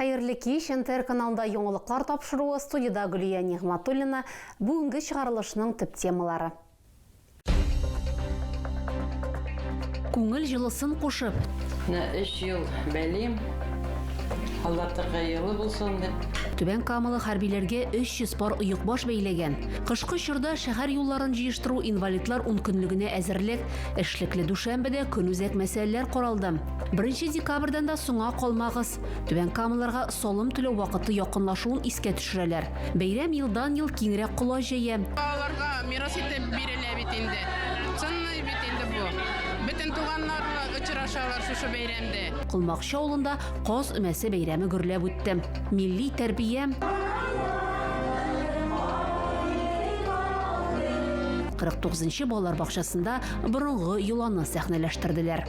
Хәерле кич, НТР каналында яңалыклар тапшыруы, студида Гөлия Нигъматуллина, бүгенге чыгарылышның төп темалары. Күңел җылысын кушып. Менә өч ел бәйлим, Алла тыргаелы булсын дип. Түбән Камалы хәрбиләргә 300 пар оекбаш бәйләгән. Кышкы чорда шәһәр юлларын җыештыру, инвалидлар ункөнлегенә әзерлек, эшлекле дүшәмбедә көнүзәк мәсьәләләр каралды. Беренче декабрьдән дә соңа калмагыз. Түбән Камаларга салым түләү вакыты якынлашуын искә төшерәләр. Бәйрәм елдан-ел киңрәк кола җәя. Балаларга мирас итеп бирелә бит инде. Ценный бит инде бу. Бөтен туганнар очрашалар шушы бәйрәмдә. Колмакчы авылында Каз өмәсе бәйрәме гөрләп үтте. Милли тәрбия, кырык тугызынчы балалар бакчасында борынгы йоланы сәхнәләштерделәр.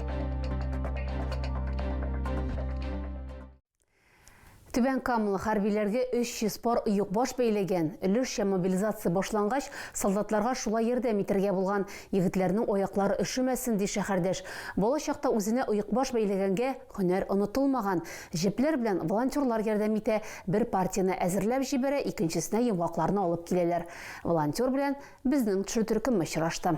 Түбән Камлы хәрбиләргә 300 пар юкбаш бәйләгән, өлешчә мобилизация башлангач, солдатларга шулай ярдәм итергә булган. Егетләрнең аяклары өшемәсен, ди шәһәрдәш. Бала чакта үзенә оекбаш бәйләгәнгә һөнәр онытылмаган. Җепләр белән волонтерлар ярдәм итә, бер партияне әзерләп җибәрә, икенчесенә йомгакларны алып киләләр. Волонтер белән безнең төшү төркеме очрашты.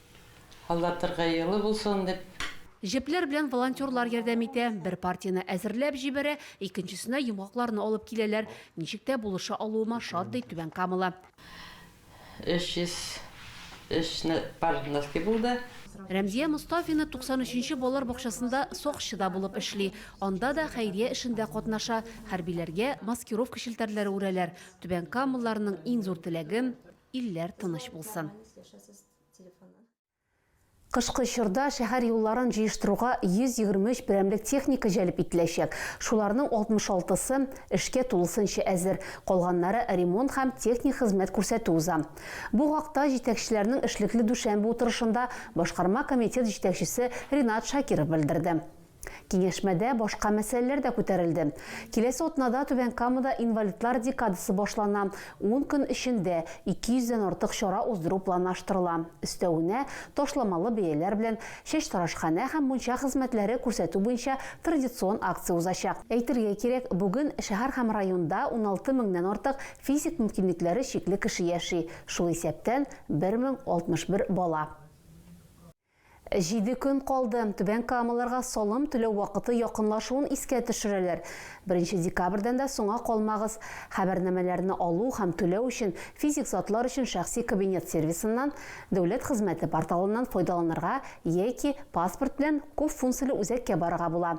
Аңлатырга елы булсын дип. Җепләр белән волонтерлар ярдәм итә. Бер партияне әзерләп җибәрә, икенчесенә йомгакларны алып киләләр. Ничек тә булыша алуыма шат, ди Түбән Камалы. 303 пар носки булды. Рәмзия Мостафина 93 нче балалар бакчасында сакчы да булып эшли. Анда да хәйрия эшендә катнаша. Хәрбиләргә маскировка челтәрләре үрәләр. Түбән Камалыларның иң зур теләге. Илләр тыныч булсын. Кышкы чорда шәһәр юлларын җыештыруга 123 берәмлек техника җәлеп ителәчәк. Шуларның 66 сы эшкә тулысынча әзер, калганнары ремонт һәм техник хезмәт күрсәтү уза. Бу хакта җитәкчеләрнең эшлекле дүшәмбе утырышында башкарма комитет җитәкчесе Ринат Шакиров белдерде. Киңәшмәдә башка мәсьәләләр дә күтәрелде. Киләсе атнада Түбән Камада инвалидлар декадасы башлана, ун көн эчендә 200 дән артык чара уздыру планлаштырыла. Өстәвенә, ташламалы бәяләр белән чәчтарашханә һәм мунча хезмәтләре күрсәтү буенча традицион акция узачак. Әйтергә кирәк, бүген шәһәр һәм районда уналты меңнән артык физик мөмкинлекләре чикле кеше яши, шул исәптән 1061 бала. Җиде көн калды, Түбән Камаларга салым түләү вакыты якынлашуын искә төшерәләр. Беренче декабрьдән дә соңа калмагыз. Хәбәрнамәләрне алу һәм түләү өчен физик затлар өчен шәхси кабинет сервисыннан, Дәүләт хезмәте порталыннан файдаланырга яки паспорт белән күп функцияле үзәккә барырга була.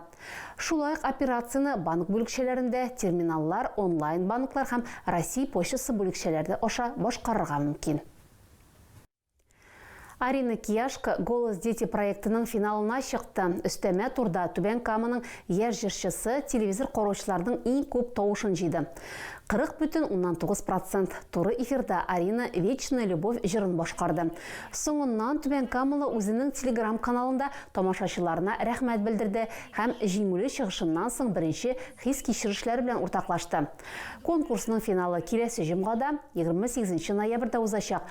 Шулай ук операцияне банк бүлекчәләрендә, терминаллар, онлайн-банклар һәм Россия почтасы бүлекчәләре аша башкарырга мөмкин. Арина Кияшка Голос дети проектының финалына чыкты. Өстәмә турда Түбән Каманың яшь җырчысы телевизор караучыларның иң күп тавышын җыйды. 40,9 процент туры эфирда Арина Вечная любовь җырын башкарды. Соңыннан Түбән Камалы үзенең Телеграм каналында тамашачыларына рәхмәт белдерде һәм җиңүле чыгышыннан соң беренче хис-кичерешләре белән уртаклашты. Конкурсның финалы киләсе җомгада, 28 ноябрьдә узачак.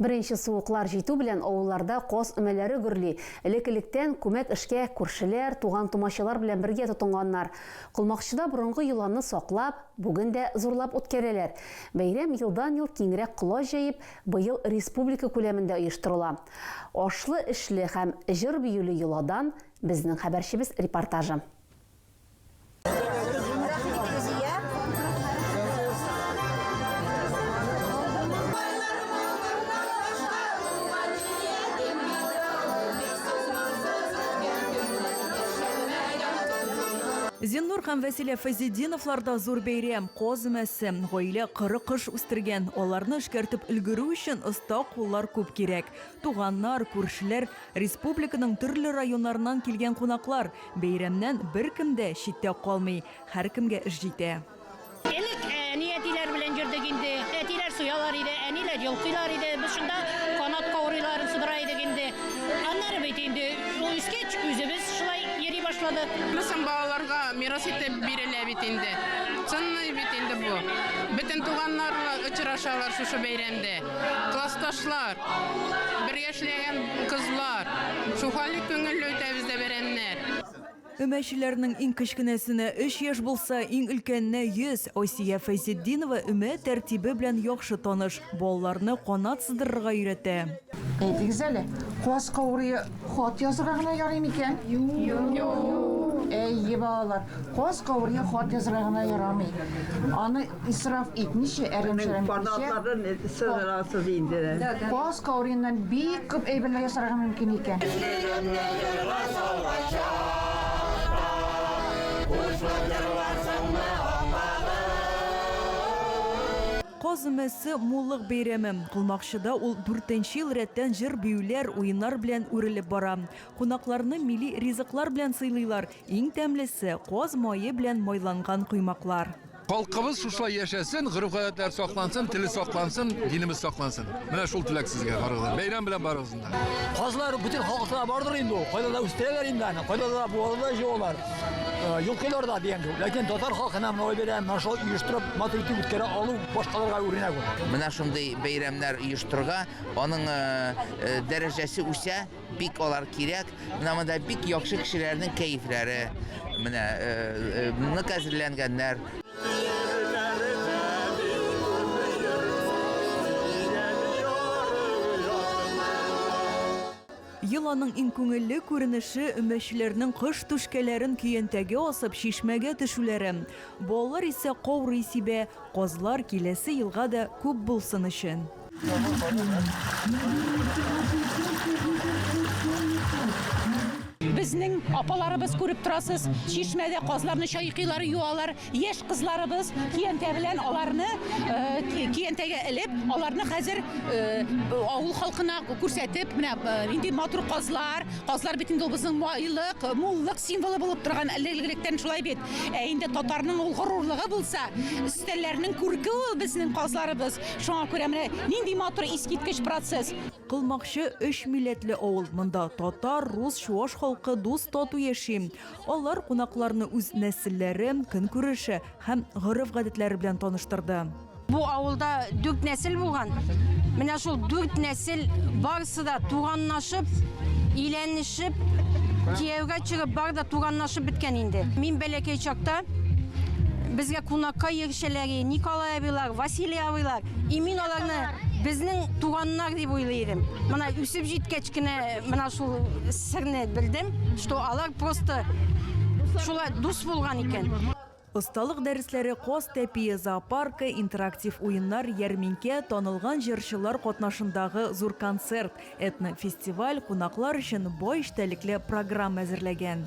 Беренче суыклар җитү белән авылларда каз өмәләре гөрли. Элек-электән күмәк эшкә күршеләр, туган-тумачалар белән бергә тотынганнар. Колмакчыда борынгы йоланны саклап, бүген дә зурлап үткәрәләр. Бәйрәм елдан-ел киңрәк колач җәеп, быел республика күләмендә оештырыла. Ашлы-эшле һәм җыр-биюле йоладан безнең хәбәрчебез репортажы. Зиннур һәм Вәсилә Фәзетдиновларда зур бәйрәм, каз өмәсе, гаилә 40 кыш үстергән. Аларны эшкәртеп өлгерү өчен оста куллар күп кирәк. Туганнар, күршеләр, Республиканың төрле районнарыннан килгән кунаклар. Бәйрәмнән беркем дә читтә калмый, һәркемгә эш җитә. Элек әни, әтиләр белән йөрдек инде. Әтиләр суялар иде, әниләр йолкыйлар иде. Без шунда канат каурыйларын сыдыра идек инде. Аннары бит инде ул үскәч, үзебез шулай йөри башладык. Аннан балаларга мирас итеп бирелә бит инде. Ценный бит инде бу. Бөтен туганнар очрашалар шушы бәйрәмдә. Классташлар. Теләгән кызлар, сухалик күңелле үтәбез дә бәйрәмнәр. Өмәчеләрнең иң кечкенәсенә өч яшь булса, иң өлкәненә йөз. Айсия Фәйзетдинова өмә тәртибе белән яхшы таныш, балаларны канат сыдырырга өйрәтә. Әйтегез әле, каз каурые хат язырга гына ярый микән? Юк. Әйе, балалар, каз каурые хат язырга гына ярамый. Аны Исраф итмичә, әрәм-шәрәм итмичә, каз каурыеннан бик күп әйберләр ясарга мөмкин икән. Каз өмәсе, муллык бәйрәме. Колмакчыда ул дүртенче ел рәттән җыр-биюләр, уеннар белән үрелеп бара. Кунакларны милли ризыклар белән сыйлыйлар, иң тәмлесе, каз мае белән майланган коймаклар. Халкыбыз шушылай яшәсен, гореф-гадәтләр саклансын, теле саклансын, динебез саклансын. Менә шул теләк сезгә барыгызга. Бәйрәм белән барыгызны да. Казлар бүтән халыкта бардыр инде ул. Кайда да үстерәләр инде аны. Кайда да буаларда җыялар. Э, Йолкыйлар да дигән кебек. Ләкин татар халкына моны бәйрәм, моны шулай оештырып, матур итеп үткәрә алу башкаларга үрнәк ул. Менә шундый бәйрәмнәр оештырырга, аның э, э, дәрәҗәсе үсә, Бик алар кирәк. Менә монда бик яхшы кешеләрнең кәефләре. Менә нык әзерләнгәннәр. Ел аның иң күңелле күренеше өмәчеләрнең кыш түшкәләрен көянтәгә асып чишмәгә төшүләре. Балалар исә каурый сибә, казлар киләсе елга да күп булсын өчен. Безнең апаларыбыз күреп торасыз, чишмәдә казларны чайкыйлар, юалар. Яшь кызларыбыз киянтә белән аларны э, киянтәгә элеп, аларны хәзер э, авыл халкына күрсәтеп, менә э, инде матур казлар, казлар бит инде безнең байлык, муллык символы булып торган әлелеклектән шулай бит. Ә инде татарның ул горурлыгы булса, өстәлләрнең күрке ул безнең казларыбыз. Шуңа күрә менә нинди матур искиткеч процесс. Кылмакчы өч милләтле авыл. Монда татар, рус, чуаш халкы дус-тату яши. Алар кунакларны үз нәселләре, көнкүреше һәм гореф-гадәтләре белән таныштырды. Бу авылда дүрт нәсел булган. Менә шул дүрт нәсел барысы да туганнашып, өйләнешеп, кияүгә чыгып, бары да туганнашып беткән инде. Мин бәләкәй чакта безгә кунакка йөрсә, Шәләри, Николай абыйлар, Василий абыйлар. И мин аларны безнең туганнар дип уйлый идем. Менә үсеп җиткәч кенә менә шул серне белдем, что алар просто шулай дус булган икән. Осталык дәресләре Каз тәпие зоопаркы, интерактив уеннар, ярминкә, танылган җырчылар катнашындагы зур концерт, этнофестиваль, кунаклар өчен бай эчтәлекле программа әзерләгән.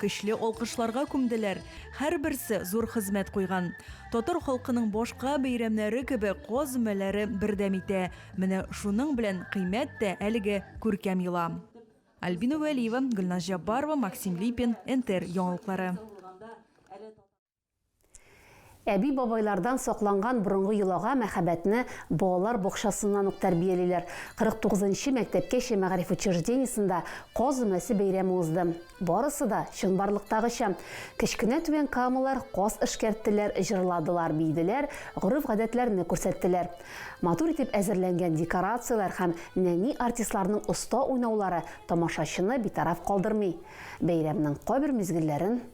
Көчле алкышларга күмделәр. Һәрберсе зур хезмәт куйган. Татар халкының башка бәйрәмнәре кебек каз өмәләре бердәм итә. Менә шуның белән кыйммәт тә әлеге күркәм йола. Альбина Вәлиева, Гөлназ Җаббарова, Максим Липин, НТР яңалыклары. Әби-бабайлардан сакланган борынгы йолага мәхәббәтне балалар бакчасыннан ук тәрбиялиләр. 49 нчы мәктәпкәчә мәгариф учреждениесендә Каз өмәсе бәйрәме узды. Барысы да, чынбарлыктагыча, кечкенә Түбән Камалар каз эшкәрттеләр, җырладылар, биеделәр, гореф-гадәтләрне күрсәттеләр. Матур итеп әзерләнгән декорацияләр һәм нәни артистларның оста уйнаулары тамашачыны битараф калдырмый. Бәйрәмнең кайбер мизгелләрен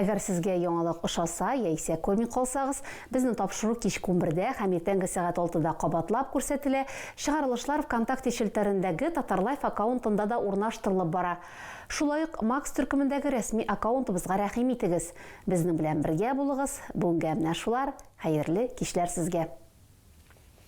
Әгәр сезгә яңалык ошаса яисә күрми калсагыз, безнең тапшыру кичке унбердә һәм иртәнге сәгать алтыда кабатлап күрсәтелә, чыгарылышлар Вконтакте челтәрендәге Татарлайф аккаунтында да урнаштырылып бара. Шулай ук Макс төркемендәге рәсми аккаунтыбызга рәхим итегез. Безнең белән бергә булыгыз, бүгенгә менә шулар, хәерле кичләр сезгә!